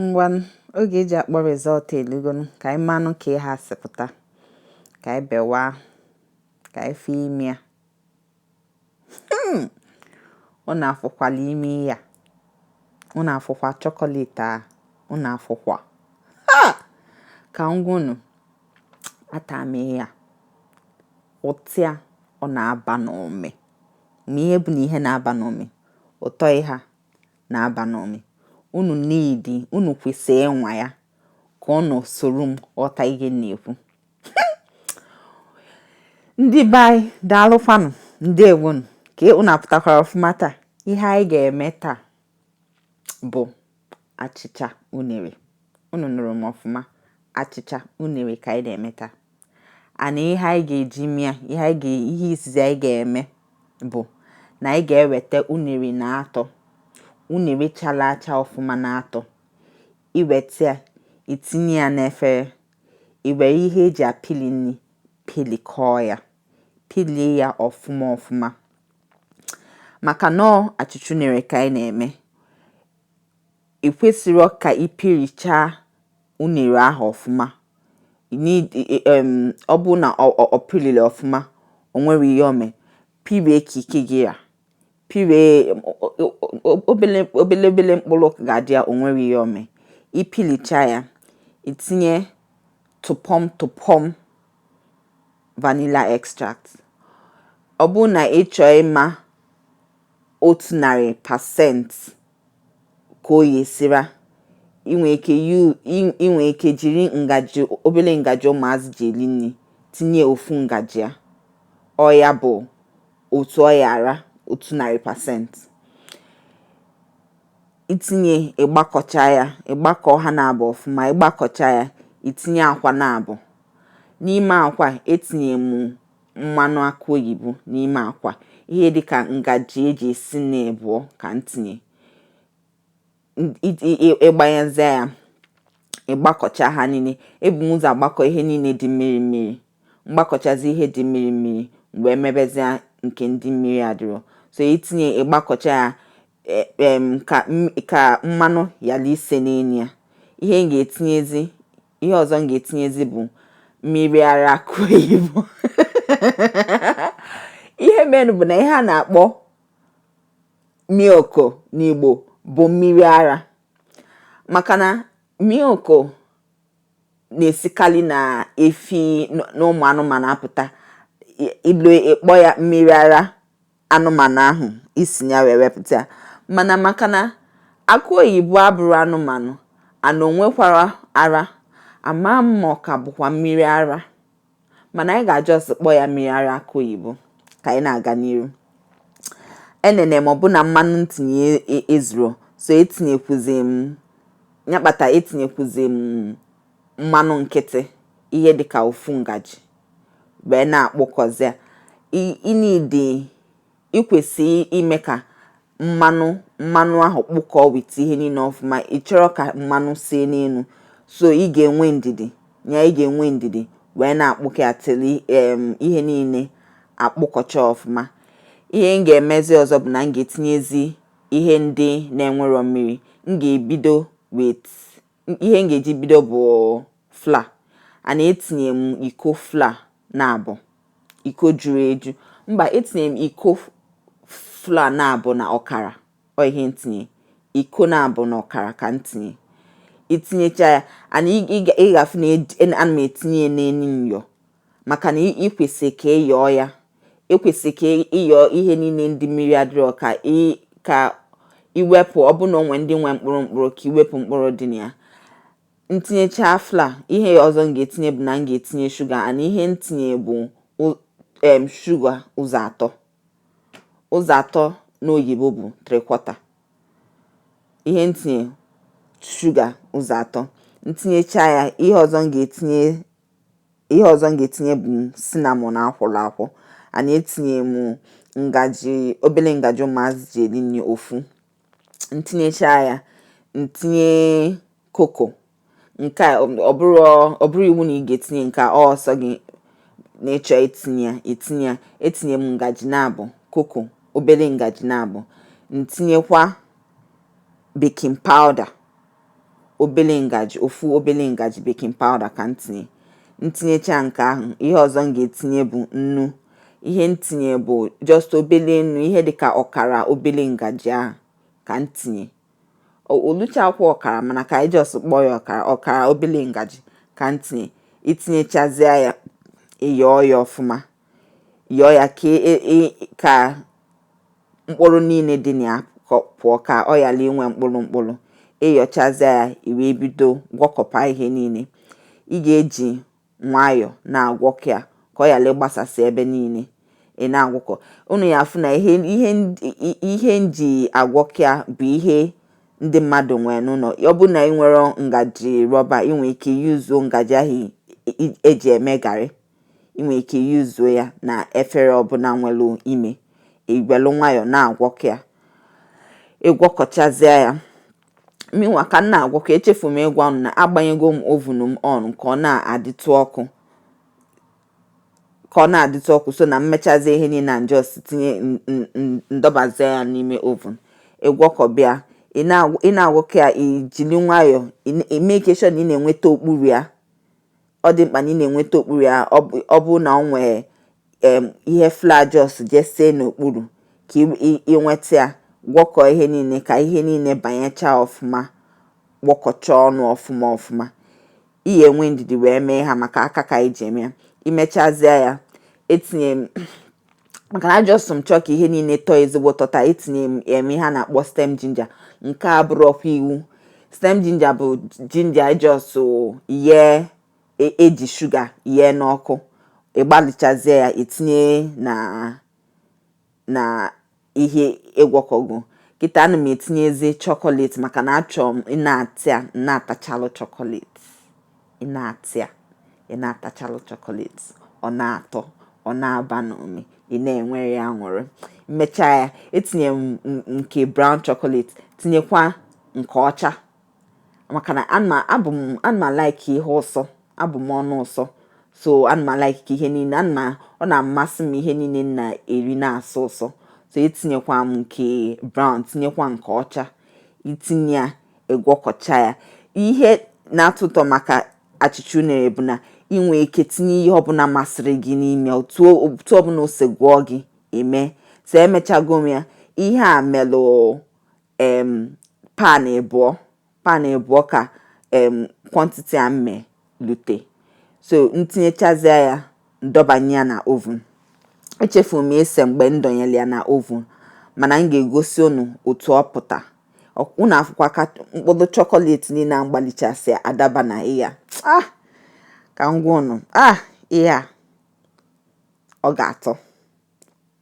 Ngwanụ oge e ji akpọ result elugonụ ka anyị manụ ka ihe a si pụta ka anyị bewa ka anyị fụ ime ya unu afụkwala ime ya unu afụkwa chocolate a unu afụkwa ha ka m gwa unu ata m ihe a ụtọ ya ọ na-aba n'ụmị ma ihe bụ na ihe na-aba n'ụmị ụtọ ihe a na-aba n'ụmị. Unu niile unu kwesịrị ịnwa ya ka unu soro m ghọta ihe m na-ekwu. Ndị be anyị daalụkwanụ ndewonụ ka unu apụtakwara ọfụma taa. Ihe anyị ga-eme taa bụ achịcha unere. Unu nụrụ m ọfụma achịcha unere ka anyị na-eme taa. and ihe anyị ga-eji me ya ihe izizi anyị ga-eme bụ na anyị ga-eweta unere naatọ unere chala acha ọfụma naatọ i weta ya i tinye ya n'efere i were ihe e ji apịlị nri pịlịkọọ ya pịlịa ya ọfụma ọfụma maka na ọọ achịcha unere ka anyị na-eme i kwesịrọ ka ị pịrịchaa unere ahụ ọfụma ọ bụrụ na ọ pịrịla ọfụma o nwerọ ihe o me pịrịa ka ike gị ra pịrịa obele obele obele mkpụrụ ga-adị ya o nwerọ ihe o me ị pịlịcha ya i tinye tụpọm tụpọm vanilla extract ọ bụrụ na ị chọọ ịma otu narị percent ka ọ ya-esi ra i nwe ike i nwere ike jiri ngaji obere ngaji ụmụazị ji eri nri tinye ofu ngaji ya ọ ya bụ otu ọ ya-ara otu narị percent i tinye ị gbakọcha ya ị gbakọọ ha naabọ ọfụma ị gbakọcha ya i tinye akwa naabọ n'ime akwa etinye m mmanụ akụ oyibo n'ime akwa ihe dịka ngaji e ji esi nri abụọ ka m tinye ị gbanyezie ya ị gbakọcha ha niile ebu m ụzọ agbakọ ihe niile dị mmiri mmiri m gbakọchazie ihe dị mmiri mmiri m bịa mebezie nke ndị mmiri adịrọ so i tinye ị gbakọcha ya e, ka mmanụ yala ise n'elu ya ihe m ga-etinyezi ihe ọzọ m ga-etinyezi bụ mmiri ara akụ oyibo ihe menụ bụ na ihe a na-akpọ milk n'Igbo bụ mmiri ara maka na milk na-esikarị na efi na ụmụ anụmanụ apụta ị kpọọ ya mmiri ara anụmanụ ahụ i si ya wee wepụta ya mana maka na akụ oyibo abụrọ anụmanụ and o nwekwarọ ara ama m ma ọ ka bụkwa mmiri ara mana anyị ga just kpọọ ya mmiri ara akụ oyibo ka anyị na-aga n'iru enene m ọ bụ na mmanụ m tinye e, e, ezurọ so etinyekwuzi m ya kpata etinyekwuzi m mmanụ nkịtị ihe dịka ofu ngaji wee na-akpụkọzi ya ị need i kwesị ime ka mmanụ mmanụ ahụ kpụkọọ with ihe niile ọfụma ị chọrọ ka mmanụ see n'elu so ị ga-enwe ndidi ya ị ga-enwe ndidi wee na-akpụkọ ya till ihe niile akpụkọcha ọfụma ihe m ga-emezi ọzọ bụ na m ga-etinyezi ihe ndị na-enwerọ mmiri m ga-ebido with ihe m ga-eji bido bụ flour and etinye m iko flour naabọ iko juru eju mba etinye m iko flour naabọ na ọkara ọ ihe m tinye iko naabọ na ọkara ka m tinye i tinyecha ya and ị ga-afụ na ana m etinye n'elu myọ maka na ị kwesịrị ka ị yọọ ya ekwesịrị ka ị yọọ ihe niile ndị mmiri adịrọ ka ị ka i wepụ ọ bụ na o nwe ndị nwe mkpụrụ mkpụrụ ka i wepụ mkpụrụ dị na ya m tinyechaa flour ihe ọzọ m ga-etinye bụ na m ga-etinye shuga and ihe m tinye bụ em shuga ụzọ atọ ụzọ atọ n'oyibo bụ three quarter ihe m tinye shuga ụzọ atọ m tinyecha ya ihe ọzọ m ga-etinye ihe ọzọ m ga-etinye bụ cinnamon a kwọrọ akwọ and etinye m ngaji obele ngaji ụmụazị ji eri nri ofu m tinyecha ya m tinye koko nke a ọ bụrọ ọ bụrọ iwu na ị ga-etinye nke a ọ sọ gị na ị chọ itinye ya i tinye ya etinye m ngaji naabọ koko obele ngaji naabọ m tinyekwa baking powder obele ngaji ofu obele ngaji baking powder ka m tinye m tinyecha nke ahụ ihe ọzọ m ga-etinye bụ nnu ihe m tinye bụ just obele nnu ihe dịka ọkara obele ngaji ahụ ka m tinye o luchakwa ọkara mana ka anyị just kpọọ ya ọkara ọkara obele ngaji ka m tinye i tinyechazie ya ị yọọ ya ọfụma yọọ ya ka e, e, e, ka mkpụrụ niile dị na ya pụọ ka ọ ghara inwe mkpụrụ mkpụrụ ị yọchazie ya i wee bido gwọkọba ihe niile ị ga-eji nwayọọ na-agwọkọ ya ka ọ ghara ịgbasasị ebe niile ị na-agwọkọ unu ya-afụ na ihe ihe ihe m ji agwọkọ ya bụ ihe ndị mmadụ nwere n'ụlọ ọ bụ na ị nwerọ ngaji rọba ị nwere ike use ngaji ahụ e ji eme garị ị nwere ike yuzuo ya na efere ọbụla nwere ime iwelu nwayọọ na-agwọkọ ya ịgwọkọchazịa ya mụnwa ka m na-agwọkọ echefu m ịgwa unu na agbanyego m oven m on ka ọ na-adịtụ ọkụ ka ọ na-adịtụ ọkụ so na mmechazi ihe niile and just tinye ndọbazie ya n'ime oven ịgwọkọba ya ị na-agwọkọ ya ijili nwayọọ ị make sure na ị na-enweta okpuru ya ọ dị mkpa na ị na-enweta okpuru ya ọ bụ na ọ nwee ihe flour just jesee n'okpuru ka ịnweta ya gwọkọọ ihe niile ka ihe niile banyechaa ọfụma gwọkọchaa ọnụ ọfụma ọfụma ị ya enwe ndidi wee mee ihe a maka aka ka i ji eme ya imechazie ya etinye m maka na a just m chọọ ka ihe niile tọọ ezigbo ụtọ taa etinye m em ihe a na-akpọ stem ginger nke a bụrọkwa iwu stem ginger bụ ginger e just yee e- eji shuga yee n'ọkụ igbalichazie ya etinye na na ihe ịgwọkọgo kịta ana m etinyezi chocolate maka na achọrọ m ị na-ata ya na-atachalụ chocolate ị na-ata ya ị na-atachalụ chocolate ọ na-atọ ọ na-aba n'ume ị na-enwere ya aṅụrị mmecha ya etinye nke brown chocolate tinyekwa nke ọcha maka na abụ m ana m alike ihe ụsọ abụ m ọnụ ụsọ so ana m alike ka ihe niile ana ọ na-amasị m ihe niile na-eri na-asọ ụsọ so etinyekwa m nke brown tinyekwa nke ọcha itinye ya ịgwọkọcha ya ihe na-atọ ụtọ maka achịcha unere bụ na ị nwee ike tinye ihe ọbụla masịrị gị n'ime otu ọbụla o si gụọ gị eme so emechago m ya ihe a melụ em pan ịbụọ pan ịbụọ ka em quantity a mme lute so ntinyechazịa ya ndọbanye ya na oven echefu m ise mgbe m dọnyere ya na oven mana m ga-egosi unu otu ọ pụta unu afụkwa ka mkpụrụ chocolate niile a mgbalichasị adaba na ya ah ka m gwa unu ah ihe a ọ ga-atọ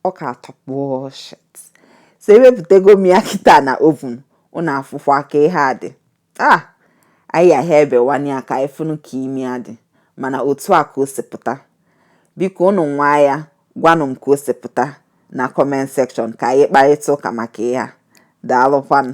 ọ ga-atọ kpụọ shet so ewepụtago m ya kịta na oven unu afụkwa ka ihe a dị Ah! Anyị ya ha ebewanye ya ka anyị fụnụ ka ime ya dị, mana otu a ka o si pụta. Biko unu nwaa ya, gwanụ m ka o si pụta na comment section ka anyị kparịta ụka maka ihe a. Daalụkwanụ.